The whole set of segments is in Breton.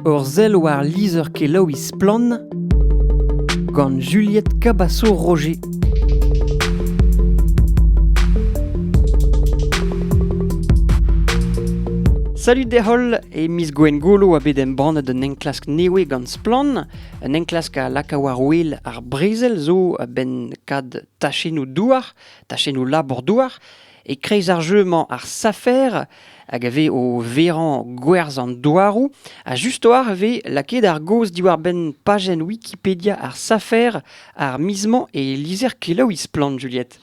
Ur sell war lizher-kelaouiñ Splann! gant Juliette Cabasso-Roger. Salut deholl, e miz Gwengolo a bet embannet un enklask newe gant Splann. Un enklask a laka war-wel ar brezel zo a-benn kad tachennoù douar, tachennoù labour-douar. E-kreiz ar jeu-mañ, ar safer, hag a vez o verañ gwerzh an douaroù, ha just-war e vez lakaet ar gaoz diwar-benn pajenn Wikipedia ar safer ar miz-mañ e lizher kelaouiñ Splann, Juliette.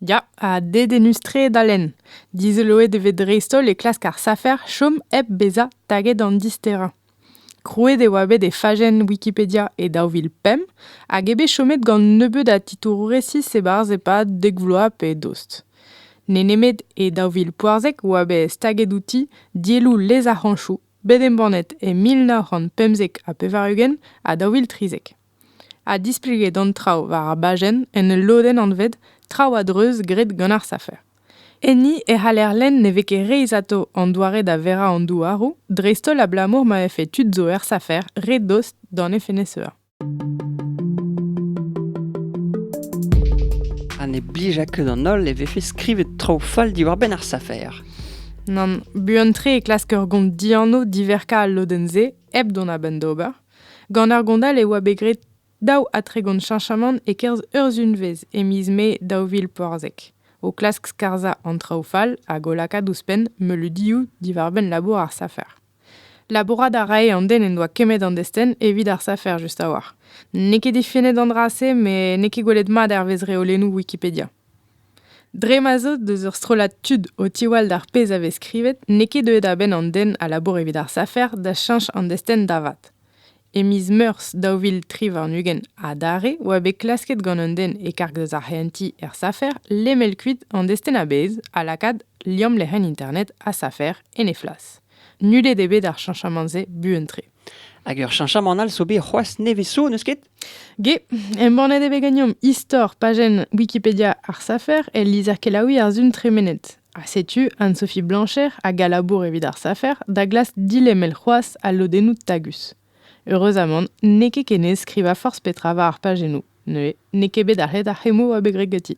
Ya, ha dedennus-tre da lenn. Dizoloet e vez dreist-holl e klask ar safer chom hep bezañ taget an disterañ. Krouet e oa bet e fajenn Wikipedia e daou vil pemp hag eo bet chomet gant nebeut a titouroù resis e-barzh e-pad dek vloaz pe dost. N'eo nemet e daou vil poazek e oa bet staget outi dielloù lez ar c'hañchoù bet embannet e mil nav c'hant pemzek ha pevar-ugent ha daou vil trizek. ha displeget an traoù war ar bajenn en ul lodenn anvet Traoù a-dreuz graet gant ar safer. Enni e c'haller lenn ne vez ket reizhato an doare da verañ an douaroù, dreist-holl abalamour ma vefe tud zo er safer re dost d'an FNSEA. Ha ne blija ket an holl e vefe skrivet traoù fall diwar-benn ar safer. Nann, buan-tre e klask ur gont dianv diverkañ al lodenn-se hep dont a-benn d'ober. Gant ar gondal e oa bet graet daou ha tregont cheñchamant e-kerzh urzhunvezh e miz Mae daou vil porzek, o klask skarzhañ an traoù fall hag o lakaat ouzhpenn meuleudioù diwar-benn labour ar safer. Labourat a rae an den en doa kemmet an destenn evit ar safer just a-walc'h. N'eo ket defennet an dra-se met n'eo ket gwelet mat hervez reolennoù Wikipedia. Dre ma 'z eus ur strollad tud o tiwall d'ar pezh a vez skrivet n'eo ket deuet a-benn an den a labour evit ar safer da cheñch an destenn da vat. E miz Meurzh daou vil tri warn-ugent adarre oa bet klasket gant un den e-karg deus ar c'hehentiñ er safer lemel kuit an destenn a-bezh ha lakaat liamm lec'hienn internet ha safer en he flas. Nullet eo bet ar cheñchamant-se buan-tre. Hag ur cheñchamant all zo bet c'hoazh nevez zo, n'eus ket? Ge, embannet e vez ganeomp istor pajenn Wikipedia ar safer el lizher kelaouiñ ar Sun tremenet. Ha setu Anne-Sophie Blancher hag a labour evit ar safer da glask dilemel c'hoazh al lodennoù tagus. Heureuzamant, n'eo ket ken aes skrivañ forzh petra war ar pajennoù, neuze n'eo ket bet arc'het ar c'hemmoù a beg geti.